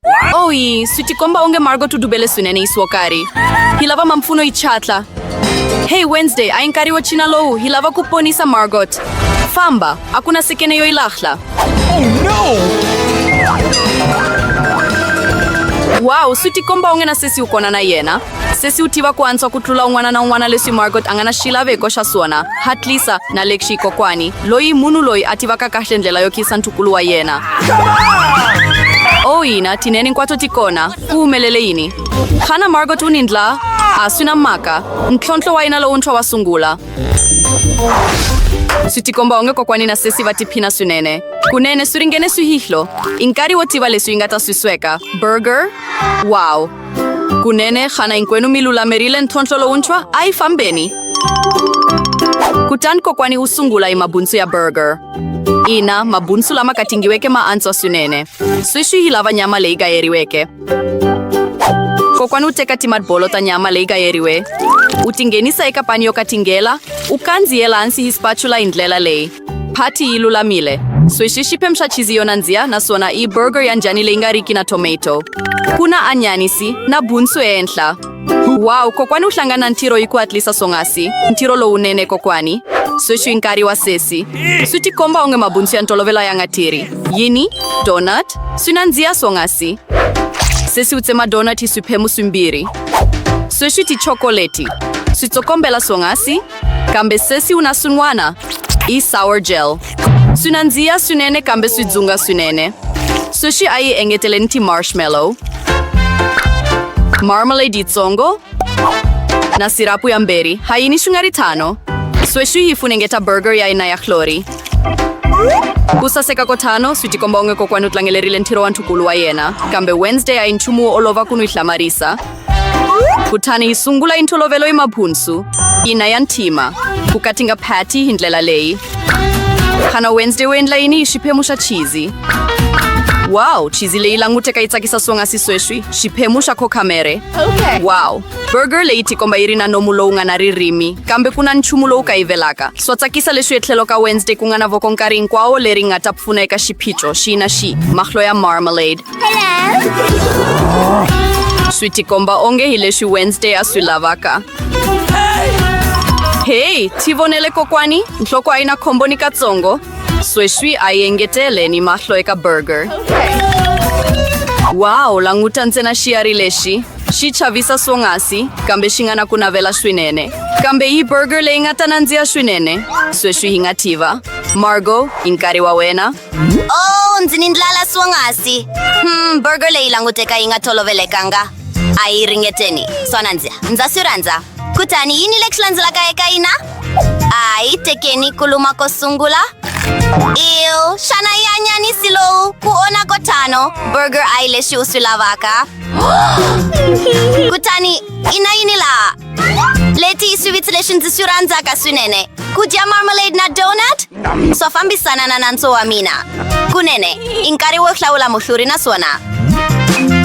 Oi, sutikomba onge Margot udubele swinene yi swokari hi lava mampfuno yi chatla hey wednesday a yi nkarhi wo china lowu hi lava ku ponisa margot famba a ku na sekene yo yi lahla oh, no! wow swi tikomba onge na sesi u kona na yena sesi u tiva ku antswa ku tlula un'wana na un'wana leswi margot a nga na xilaveko xa swona hatlisa na lexi kokwani loyi munhu loyi a tivaka kahle ndlela yo khisa ntukulu wa yena o oh, yina tinene hinkwato ti kona ku humelele yini xana margot u ni ndla a swi na mhaka ntlhontlho wa yena lowuntshwa wa sungula swi tikomba onge kokwani na sesi va tiphina swinene kunene swi ringene swihihlo i nkarhi wo tiva leswi yi nga ta swi sweka burger wow Kunene, xana hinkwenu mi lulamerile ntlhontlho lowuntshwa? A yi fambeni. Kutani kokwani u sungula hi mabunsu ya burger. Ina, mabunsu lama katingiweke ma antswa swinene. Sweswi hi lava nyama leyi gayeriweke. Kokwani u teka timadbolo ta nyama leyi gayeriwe, u tinghenisa eka pani yo katingela, u kandziyela hansi hi spatula hi ndlela leyi. Patty yi lulamile. Swishi xi phemsha chizi yo nandziha naswona i burger ya njhani leyi nga riki na tomato. Ku na anyanisi na bunsu ehenhla. Wow, kokwani u hlangana ntirho yi ku hatlisa swonghasi. Ntirho lowunene kokwani. Sweswi i nkarhi wa sesi. Swi tikomba onge mabunsu ya ntolovelo ya nga tirhi. Yini? Donut? Swi nandziha swonghasi. Sesi u tsema donut hi swiphemu swimbirhi. Sweswi tichokoleti. Switsokombela swonghasi. kambe sesi u na swin'wana i sour gel swi nandziha swinene kambe swi dzunga swinene sweswi a yi engeteleni ti-marshmallow marmalade yitsongo na sirapu ya mberi ha yini swi nga ri tano sweswi yi funengeta burger ya yina ya hlori ku saseka ko tano swi tikomba onge kokwani u tlangelerile ntirho wa nthukulu wa yena kambe wednesday a yi nchumu wo olova ku n'wi hlamarisa kutani hi sungula hi ntolovelo hi mabhunsu ina ya ntima ku katinga phati hi ndlela leyi xana wednesday u endla yini hi xiphemu xa chizi wow chizi leyi languteka yi tsakisa swonghasi sweswi xiphemu xa khokhamere okay. wow burger leyi tikomba yi ri na nomu lowu nga na ririmi kambe ku na nchumu lowu kayivelaka swa tsakisa leswi etlhelo ka wednesday ku nga na voko nkarhi hinkwawo leri nga ta pfuna eka xiphiqo xi na xi mahlo ya marmalade swi tikomba onge hi leswi wednesday a swi lavaka heyi ti vonele kokwani nhloko a yi na khombo ni katsongo sweswi a yi engetele ni mahlo eka burger waw languta ntsena xiyari lexi xi chavisa swonghasi kambe xi nga na ku navela swinene kambe yi burger leyi nga ta nandziha swinene sweswi hi nga tiva margo i nkarhi wa wena Oh, ndzi ni ndlala swonghasi. Hmm, burger leyi languteka yi nga tolovelekanga. A yi ringeteni. Swona ndzi ndza swi rhandza. Kutani yini lexi landzelaka eka yina? A yi tekeni ku luma ko sungula. Ew, xana yi anyanisi lowu ku ona ko tano. Burger a yi lexi u swi lavaka. Kutani i na yini laha? Leti swi vitsile swi ndzi swi rhandzaka swinene ku dya marmalade na donut swa fambisana na nantso wa mina kunene i nkarhi wo hlawula muhluri naswona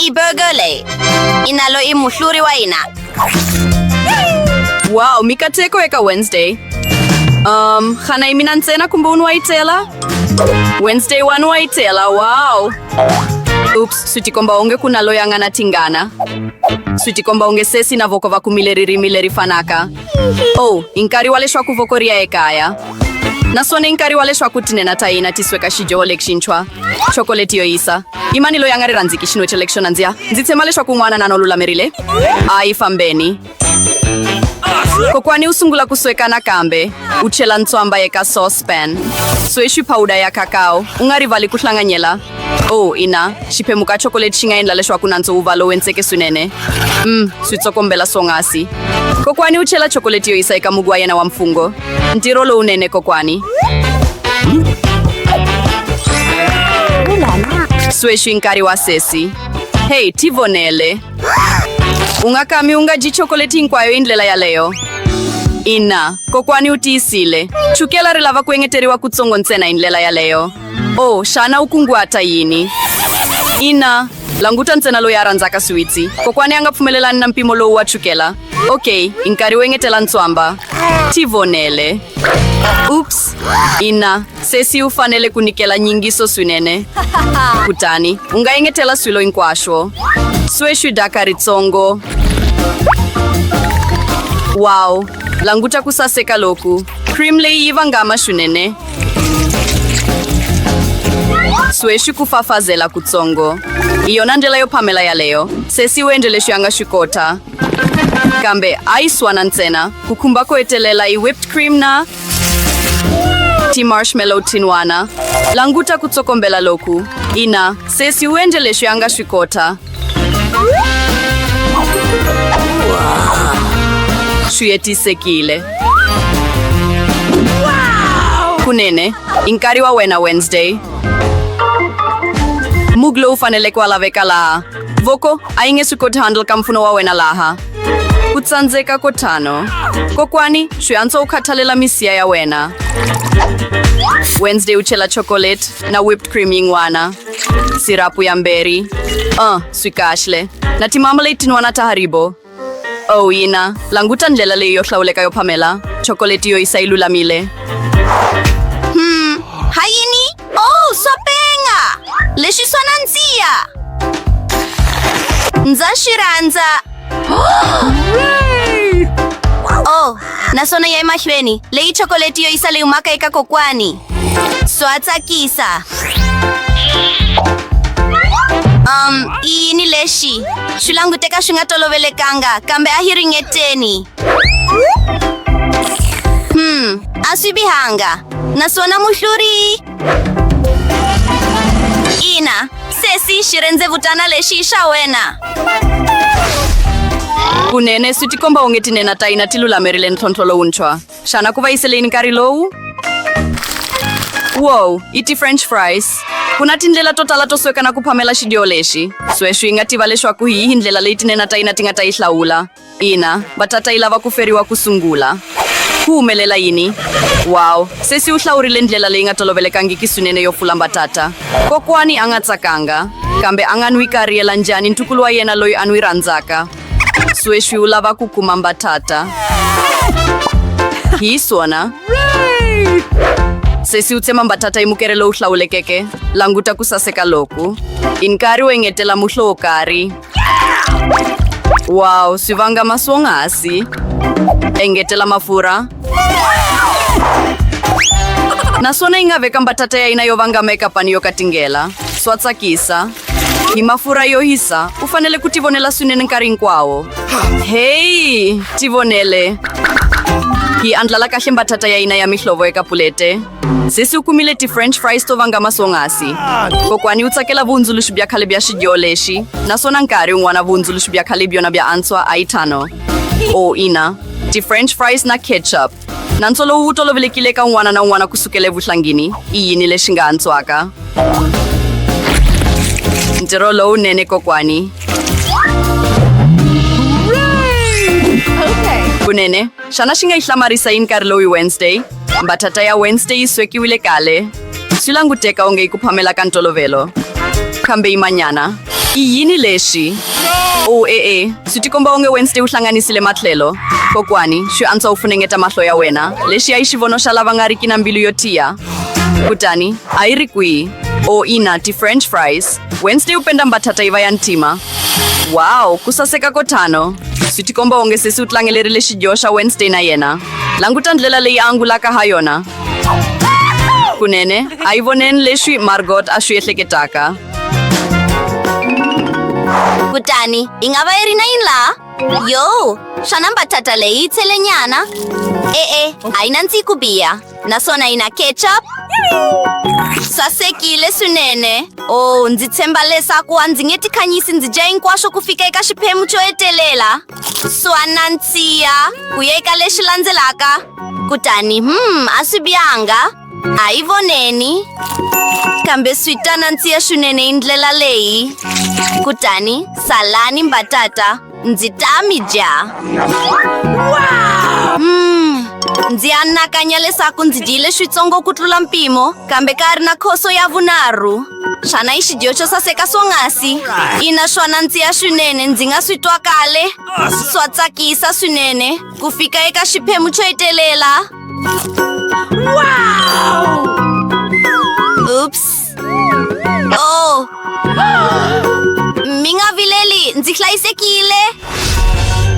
i burger leyi i nalo i muhluri wa hina wow mikateko eka wednesday um xana yi mina ntsena kumbe un'we wa yi tela wednesday one wa yi tela wow Ups, swi tikomba onge ku na loyi a nga na tingana swi tikomba onge sesi na voko va kumile ririmi leri fanaka oh i nkarhi wa leswaku voko ri ya ekaya naswona i nkarhi wa leswaku tinena ta hina ti sweka xidyoho lexintshwa chokoleti yo yisa i mani loyi a nga ri rhandziki xinwe xa lexo nandziha ndzi tshemba leswaku n'wana na no lulamerile a yi fambeni kokwani u sungula ku sweka nakambe u chela ntswamba eka saucepan sweswi phawuda ya kakao u nga rivali ku hlanganyela o oh, ina xiphemu ka chokoleti xi nga endla leswaku nantswo wu va lowu entseke swinene mm swi tsokombela swongasi kokwani u chela chokoleti yo yisa eka mugu wa yena wa mfungho ntirho lowunene kokwani sweswi nkarhi wa sesi heyi tivonele ungakami unga ji chocolate hinkwayo hi ndlela yaleyo ina kokwani u tiyisile chukela ri lava ku engeteriwa kutsongo ntsena hi ndlela yaleyo o oh, xana u kunguhata yini ina languta ntsena loyi a rhandzaka swiwitsi kokwani a nga pfumelelani na mpimo lowu wa chukela okay i nkarhi wo engetela ntswamba tivonele ups ina Sesi u fanele ku nyikela nyingiso swinene. Kutani u nga engetela swilo hinkwaswo. Sweswi daka ritsongo. Wow, languta ku saseka loku. Cream leyi yi vangama swinene. Sweswi ku fafazela kutsongo. Hi yona ndlela yo phamela yaleyo. Sesi u endle leswi a nga swi kota. Kambe a yi swana ntsena. Ku khumba ko hetelela i whipped cream na ti marshmallow tinwana languta ku tsokombela loku ina sesi u endle leswi a nga swi kota swi hetisekile kunene i nkarhi wa wena wednesday mug lowu faneleke wa laveka laha voko a yi nge swi koti handle ka mpfuno wa wena laha ku tsandzeka ko tano kokwani swi antswa u khathalela misiya ya wena wednesday u chela chocolate na whipped cream yin'wana sirapu ya mberi uh swi kahle na timamalate tin'wana ta haribo Oh, ina. Languta ndlela leyi yo hlawuleka yo phamela. Chokoleti yo isa yi lulamile. Hmm, ha yini? Oh, swa penga! Lexi swa nandziha! Ndza xi rhandza! Oh, naswona ya emahlweni. Leyi chokoleti yo isa leyi humaka eka kokwani. Swatsakisa. Um, iyi ni lexi swi languteka swi nga tolovelekanga kambe a hi ringeteni hmm a swi bihanga naswona muhluri ina sesi xi rendzevutana lexi i xa wena kunene swi tikomba onge tinena ta hina ti lulamerile ntlhontlho lowuntshwa Xana ku va yi seleni nkarhi lowu? Wow, i ti-french fries. Ku na tindlela to tala to sweka na ku phamela xidyo lexi. Sweswi yi nga tiva leswaku hi yihi ndlela leyi tinena ta yina ti nga ta yi hlawula. Ina, batata yi lava ku feriwa ku sungula. Ku humelela yini? Wow, sesi u hlawurile ndlela leyi nga tolovelekangiki swinene yo pfula mbatata. Kokwani a nga tsakanga, kambe a nga n'wi kariyela njhani ntukulu wa yena loyi a n'wi rhandzaka? sweswi u lava ku kuma mbatata hi swona sesi u tsema mbatata hi mukere lowu hlawulekeke languta ku saseka loku i nkarhi wo engetela muhlo wo karhi waw swi vanga maswonghasi engetela mafurha naswona yi nga veka mbatata ya yina yo vangama eka pani yo katingela swa tsakisa hi mafurha yo hisa u fanele ku tivonela swinene nkarhi hinkwawo heyi tivonele hi andlala kahle mbatata ya hina ya mihlovo eka pulete sesi u kumile ti-french fries to vanga masonghasi kokwani u tsakela vuhundzuluxi bya khale bya xidyo lexi naswona nkarhi un'wana vuhundzuluxi bya khale byona bya antswa a yi thano o ina ti-french fries na ketchup Nantswo lowu wu tolovelekile ka un'wana na un'wana ku sukela evuhlangini i yini lexi nga antswaka? Ntirho lowunene kokwani. Kunene, xana xi nga yi hlamarisa yini nkarhi lowu hi Wednesday? Mbatata ya Wednesday yi swekiwile kale. Swi languteka onge i ku phamela ka ntolovelo. Kambe yimanyana. I yini lexi? O oh, e-e, eh, eh. swi tikomba onge Wednesday u hlanganisile matlhelo. Kokwani, swi antswa u funengeta mahlo ya wena. Lexi ya yi xivono xa lava nga riki na mbilu yo tiya. Kutani, a yi ri kwihi? O oh, ina, ti-french fries. Wednesday u penda mbatata yi va ya ntima. Wow, ku saseka ko tano. Swi tikomba onge sesi u tlangelerile xidyoho xa Wednesday na yena. Languta ndlela leyi a angulaka ha yona. kunene a yi voneni leswi margot a swi ehleketaka kutani yi nga va yi ri na yini laha yo xana mbatata leyi yi tselenyana e-e a yi nandziyi ku biha naswona yi na ketchup sasekile swinene o oh, ndzi tshemba leswaku a ndzi nge tikhanyisi ndzi dya hinkwaswo ku fika eka xiphemu xo hetelela swa nandziha ku yeka lexi landzelaka kutani hmm a swi bihanga a yi voneni kambe swi ta nandziha swinene hi ndlela leyi kutani salani mbatata ndzi ta mi dya hmm ndzi anakanya leswaku ndzi dyile switsongo ku tlula mpimo kambe ka ri na khoso ya vunharhu xana i xidiyo xo saseka swonghasi ina swona ndzi ya swinene ndzi nga swi twa kale swa tsakisa swinene ku fika eka xiphemu xo hetelela ups o oh. mi nga vileli ndzi hlayisekile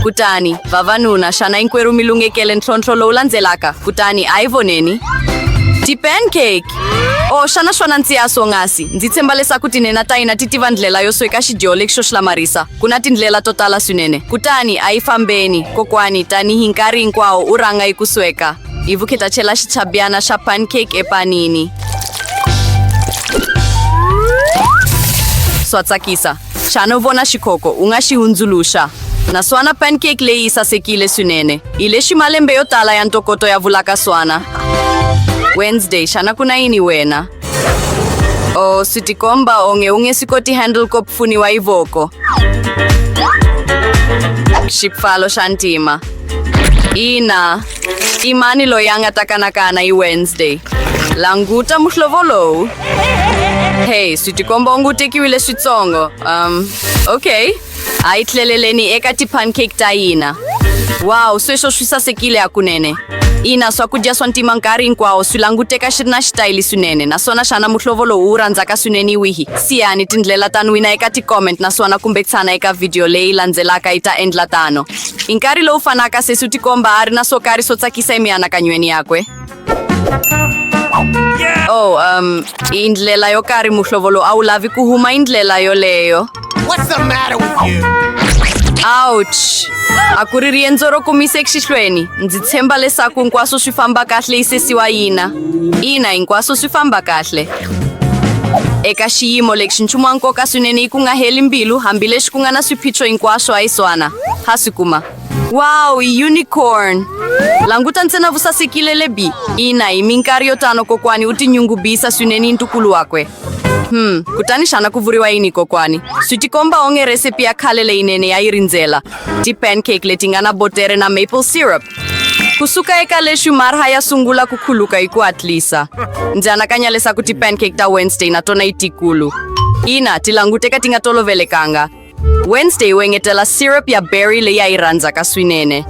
kutani vavanuna xana hinkwerhu mi lunghekele ntlhontlho lowu landzelaka kutani a hi voneni ti-pancake o oh, xana swona ntsiya swongasi ndzi tshemba leswaku tinena ta hina ti tiva ndlela yo sweka xidyo lexi xo xi lamarisa ku na tindlela to tala swinene kutani a yi fambeni kokwani tanihi nkarhi hinkwawo u rhanga yi ku sweka hi vukheta chela xichabyana xa pancake epanini swa tsakisa Xana u vona xikhoko u nga xi hundzuluxa? Naswana pancake leyi yi sasekile swinene. Hi le ximalembe yo tala ya ntokoto ya vulaka swana. Wednesday, xana ku na yini wena? O swi tikomba onge u nge swi koti handle ko pfuniwa hi voko. Xipfalo xa ntima. Ina, I mani loyi a nga ta kanakana hi Wednesday? Languta muhlovo lowu. Hey, swi tikomba onge u tekiwile switsongo. Um, okay. A yi tleleleni eka ti-pancake ta hina. Wow, sweswo swi sasekile hakunene. Ina, swakudya swa ntima nkarhi hinkwawo swi languteka xi ri na xitayili swinene naswona xana muhlovo lowu wu rhandzaka swinene wihi? Siyani tindlela ta nwina eka ti-comment naswona kumbe tshana eka vhidiyo leyi landzelaka yi ta endla tano. Hi nkarhi lowu fanaka, sesi u tikomba a ri na swo karhi swo tsakisa emianakanyweni yakwe. Oh, um, hi ndlela yo karhi muhlovo lowu a wu lavi ku huma hi ndlela yoleyo. What's the matter with you? Ouch! A ku ri riendzo ro kumisa exihlweni. Ndzi tshemba leswaku hinkwaswo swi famba kahle yi sesiwa yina. Ina, hinkwaswo swi famba kahle. Eka xiyimo lexi nchumu wa nkoka swinene ku nga heli mbilu hambileswi ku nga na swiphiqo hinkwaswo a yi swana ha swi kuma wow unicorn languta ntsena vusasekile lebi ina hi minkarhi yo tano kokwani u tinyungubisa swinene hi ntukulu wakwe Hmm, kutani xana ku vuriwa yini kokwani? Swi tikomba onge recipe ya khale leyinene ya yi rindzela. Ti-pancake leti nga na botere na maple syrup. kusuka eka leswi marha ya sungula ku khuluka hi ku hatlisa ndzi anakanya leswaku ti-pancake ta wednesday na tona yi tikulu ina ti languteka ti nga tolovelekanga wednesday u engetela syrup ya berry leyi a yi rhandzaka swinene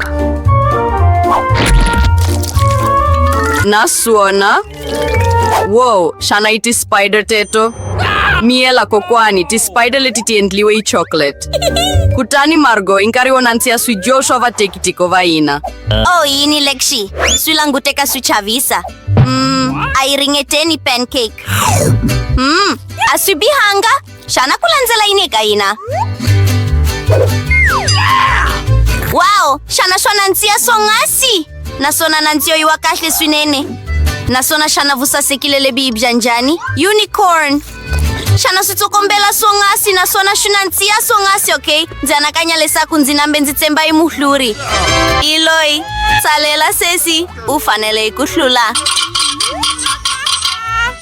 naswona Whoa, xana i ti-spider teto? Miyela kokwani, ti-spider leti ti endliwe hi chocolate. Kutani Margo i nkarhi wo nandziha swidyo swa vatekitiko va hina. Oh, yini Lexi? Swi languteka swi chavisa. Mm, a yi ringeteni pancake. Mm, a swi bihanga. Xana ku landzela yini eka hina? Wow! Xana swa nandziha swonghasi? Naswona nandziho yi wa kahle swinene. Naswona xana vusasekile lebyi yi bya njhani? Unicorn! Xana swi tsokombela swonghasi naswona swi nandziha swonghasi, okay? Ndzi anakanya leswaku ndzi nambe ndzi tsemba yi muhluri. Hi loyi, tsalela sesi, u fanele ku hlula.